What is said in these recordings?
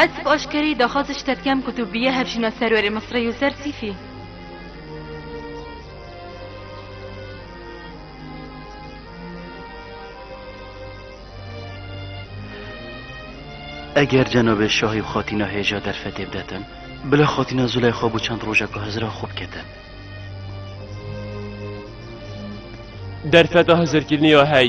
Ez bi aşkereyî daxwaz ji te dikem ku tu bîye hevjîna serwerê Misrê Yûser Sîfî. Eger cenabê şahî û xatîna hêja derfetê bidetin, bila xatîna Zûleyxa bû çend roja ku Hizira xwe biketin. Derfeta hizirkirinê ya hey.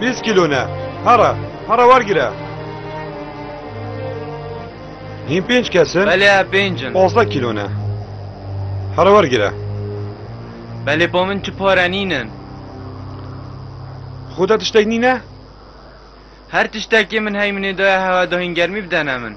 Bîst kîlo ne. Here, here wergire. Hîn pênc kes in? Belê ev pênc in. Pazdeh kîlo ne. Here wergire. Belê bo min tu pare nîn in. Xwe de tiştek nîn e? Her tiştekê min heyminê daye hewa da hîn germî bidene min.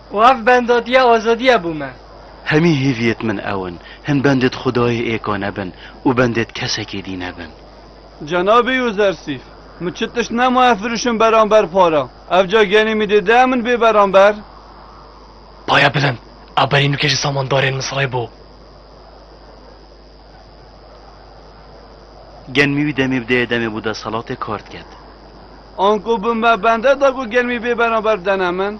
Û ev bendatiya azadiye bû me. Hemî hêviyêt min ew in, hin bendêt xudayê êka nebin û bendêt kesekê dî nebin. Cenabê Yûzersîf, min çi tişt nemaye firûşim beramber para, evca genî min dê dea min bê beramber? Paya bilind, ew berî nûkê ji samandarên Misirê bû. Genmî wî demê bi dê demê bû desthilatê kar diket. Anku bi me bende da ku genmî bê beramber bidene min?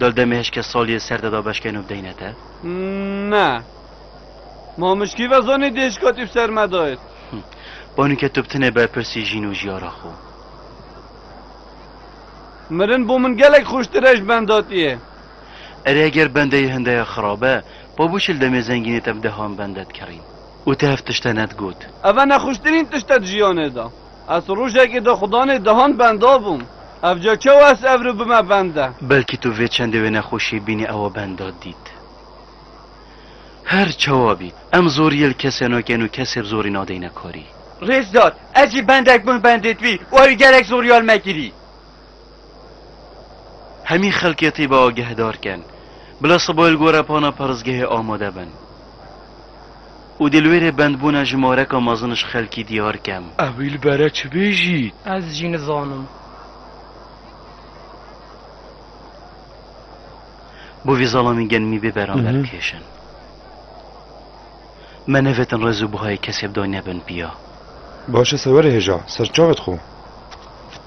Dol demê hişkê saliyê ser te da beşkêno bideyne te? Ne. Ma mişkî vezanî dê hişka tî bi ser me dayêt. Banu ke tu bi tinê berpirsî jîn û jiyara xwe. Mirin bo min gelek xweştir e ji benda tî yê. Erê heger bendeyê hindeya xirab e, pa bûçil demê zengînê te bi dehan bende dikerîn. Û te hev tişt e ne digot. Ev e nexweştirîn tişt e di jiyanê da. Ez rojekê di xudanê dehan benda bûm. Ev ca çawa ez ev ru bime bende? Belkî tu vê çendê wê nexweşiyê bînî ewa benda dît. Her çawa bî, em zoriyê li kesê nakin û kesê bi zorî nadeyne karî. Rêzdar, ez jî bendek bûm bendê twî û ew ê gelek zoriyal me kirî. Hemî xelkê tîbe agehdar ken, bila siboyê li gora pana parêzgehê amade bin û dê li wê rê bendbûna ji mareka mezin ji xelkî diyar kem. Ew ê li bere çi bêjît? Ez jî nizanim. Bo vê zalamên genimî bê beran derkêşin. Me nevêtin rêz û buhayê kesê bi dayîne bin piya. Baş e sewerê hêja, ser çavê dixwim.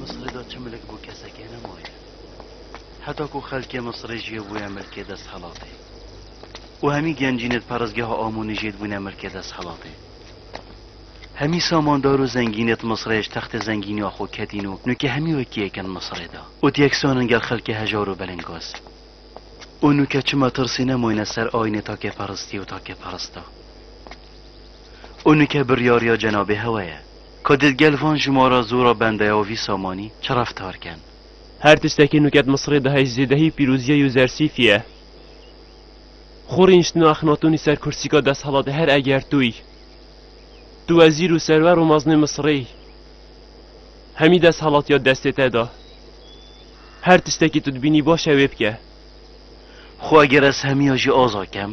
Misrê de çi milik bo kesekê nemaye. Heta ku xelkê Misrê jê bûye milkê desthilatê û hemî gencînê di perestgeha Amonê jê dibûne milkê desthilatê. Hemî samandar û zengînê di Misrê ji textê zengîniya xwe ketîn û nûkê hemî wekî yek in Misrê de û di yek sanin gel xelkê hejar û belingaz. Û nûke çima tirsî nemaine ser ayînê takeperistî û takeperista. Û nûke biryariya cenabê hewa ye. Ka dê gel van ji ma re zora bendeya vî samanî çi reftar ken? Her tiştekî nuket Misirê diheyî zêdehî pîrozîyeyî û zersîfî ye. Xo rîniştina Exnatunî ser kursîka desthilatê her eger tûy, tu wezîr û serwer û meznê Misirê yî, hemî desthilatîya destê te de. Her tiştekî tu dibînî baş e wê bike. Xo eger ez hemîya jî aza kem?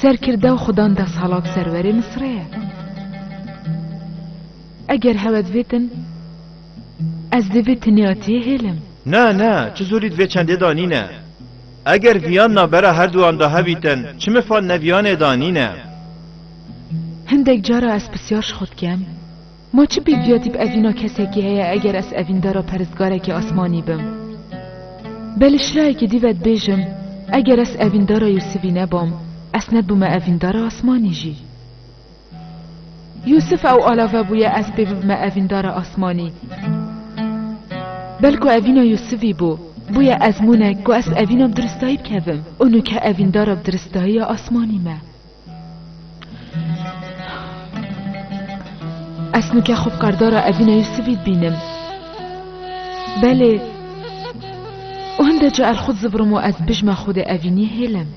Serkirda xudan desalat serwerê Misrê ye. Eger hewet vêtin, ez dê vê tinêatiyê hêlim. Na, na, çi zorî di vê çendê da nîne. Eger viyan navbera her duwan da hebîtin, çi mifan ne viyanê da nîne. Hindek cara ez pisyar ji xwe dikem, Ma çi pêk dîya tîp evîna kesekî heye eger ez evîndara peristgarekî asmanî bim? Be li şirayekî dî ve dibêjim, eger ez evîndara Yûsivî nebam, ez nedibûme evîndara asmanî jî. Yûsiv ew alave bûye ez pê bibime evîndara asmanî. Belko evîna Yûsivî bû, bûye ezmûnek ku ez evîna bi diristayî bikevim û nûke evîndara bi diristayiya asmanî me. Ez nike xwe bi kardara Evîna Yusifî dibînim. Belê û hinde ca ez xwe dizivirim û ez bijma xwe dê Evînî hêlim.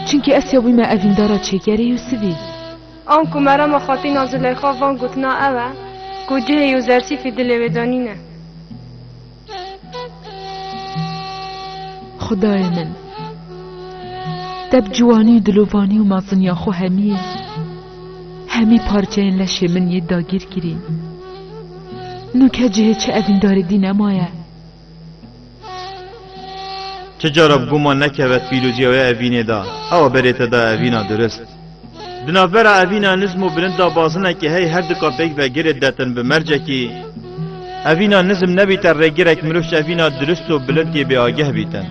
Çimkî ez ya wî me evîndara çêkerê Yusifî. An ku Merema Xatîna Zileyxa van gotina ew e ku cihê Yûzersîfî dilê wê danîne. Xudayê min! Te bi ciwanî û dilovanî û meziniya xwe hemiyê hemî parçeyên leşê min yê dagîr kirîn. Nû ke cihê çi evîndarê dî nemaye. Çi cara bi guman nekeve pîroziya wê evînê de, ewa berê te da evîna dirust. Di navbera evîna nizm û bilind de bazinekî hey her du kapêk ve girê detin bi mercekî. Evîna nizm nebîte rêgirek mirov ji evîna dirust û bilind yê bêageh bîtin.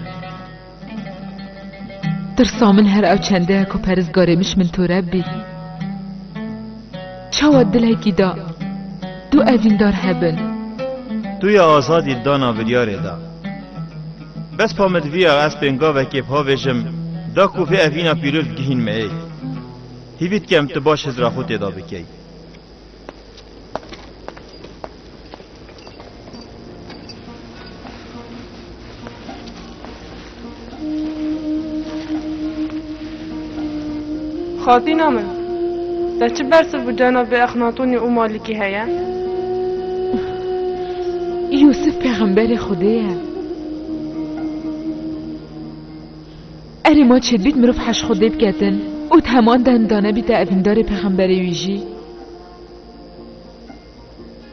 Tirsa min her ew çende ye ku perizgarê miş min toreb bî. Çawa dilekî da du evîndar hebin. Tu ya azadî dana biryarê de. Bes pa min diviya ez pêngavekê bi havêjim da ku vê evîna pîrûz bigihîn me ê. Hîvî dikem tu baş hizra xwe têda bikey. Xatîna min, te çi bersiv bi cenabê Exnatonî û Malikî heye? Yûsif pêxemberê Xwedê ye. Erê ma çêdibît mirov heş Xwedê biketin û di heman de him danebîte evîndarê pêxemberê wî jî?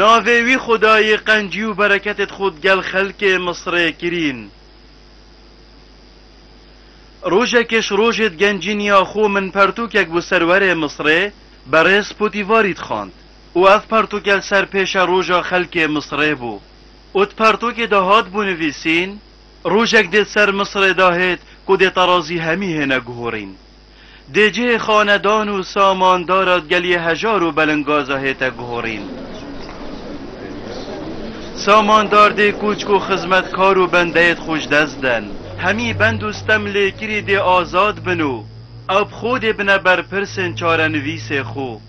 Navê wî Xwedayê qencî û bereketê di xwe gel xelkê Misirê kirîn. Rojekê ji rojê di gencîniya xwe min pertûkek bo serwerê Misirê berêz Potîvarî dixwand û ev pertûke li ser pêşe roja xelkê Misirê bû û di pertûkê de hat bo nivîsîn, Rojek dê di ser Misirê de hêt ku dê terazî hemî hêne guhorîn. Dê cihê xanedan û samandara geliyê hejar û belinggaza hête guhorîn. Samandar dê kûçk û xizmetkar û bendeyêd xwe ji dest den. Hemî bend û stem lêkirî dê azad bin û ew bi xwe dê bine berpirsên çarenivîsê xwe.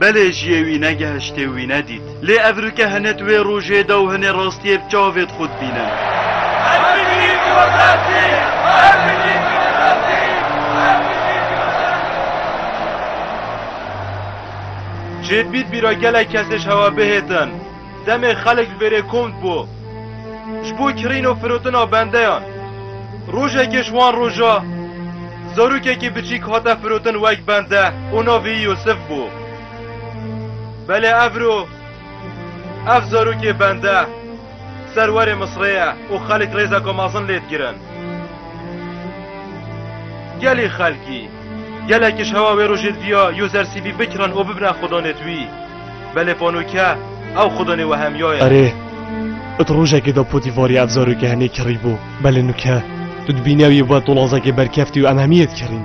Belê jiyê wî negehiştê û wî nedît. Lê ev rike hinê di wê rojê de û hinê rastiyê bi çavê di xwe dibîne. Jêdbît bîra gelek kesê ji hewa bihêtin. Demê xelk verê komd bû ji bo kirîn û firotina bendeyan. Rojekê ji wan roja zarokekî biçîk hate firotin wek bende û navê yî Yûsif bû. Belê evro ev zarokê bende ser werê Misrê ye û xelk rêzeka mezin lê digirin. Gelê xelkî gelekî ji hewa wê rojê diviya Yozersîvî bikirin û bibine xwedanê di wî. Belê ponûke, ew xudonê wehemiyo ye. Erê, it rojekê de potî varî ev zarokê henê kirî bo, belê nûke. Tu dibînî ew yê bo tolazekê berkevtî û em hemî yê dikirîn.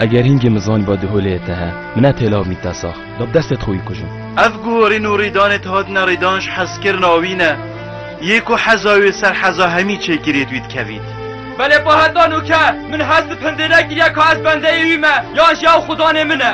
Eger hîngê min zanî ba di holeyê te he, min ne pêlav mî te sax, da bi destê xwe wî kujim. Ev guhorîn û rîdanê ti hatine rîdan ji hezkirina wî ne, yê ku heza wê ser heza hemî çêkiriyê di wî dikevît. Belê po heta nûke, min hez di pindê nekiriye ka ez bendeyê wî me, yan jî ew xudonê min e.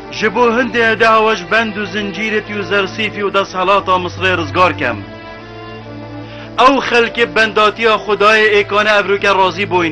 Ji bo hindê eda we ji bend û zincîrîtî û zersîfî û desthilata Misirê rizgar kem. Ew xelkê bi bendatiya Xwedayê ê kane evroke razî bûyn.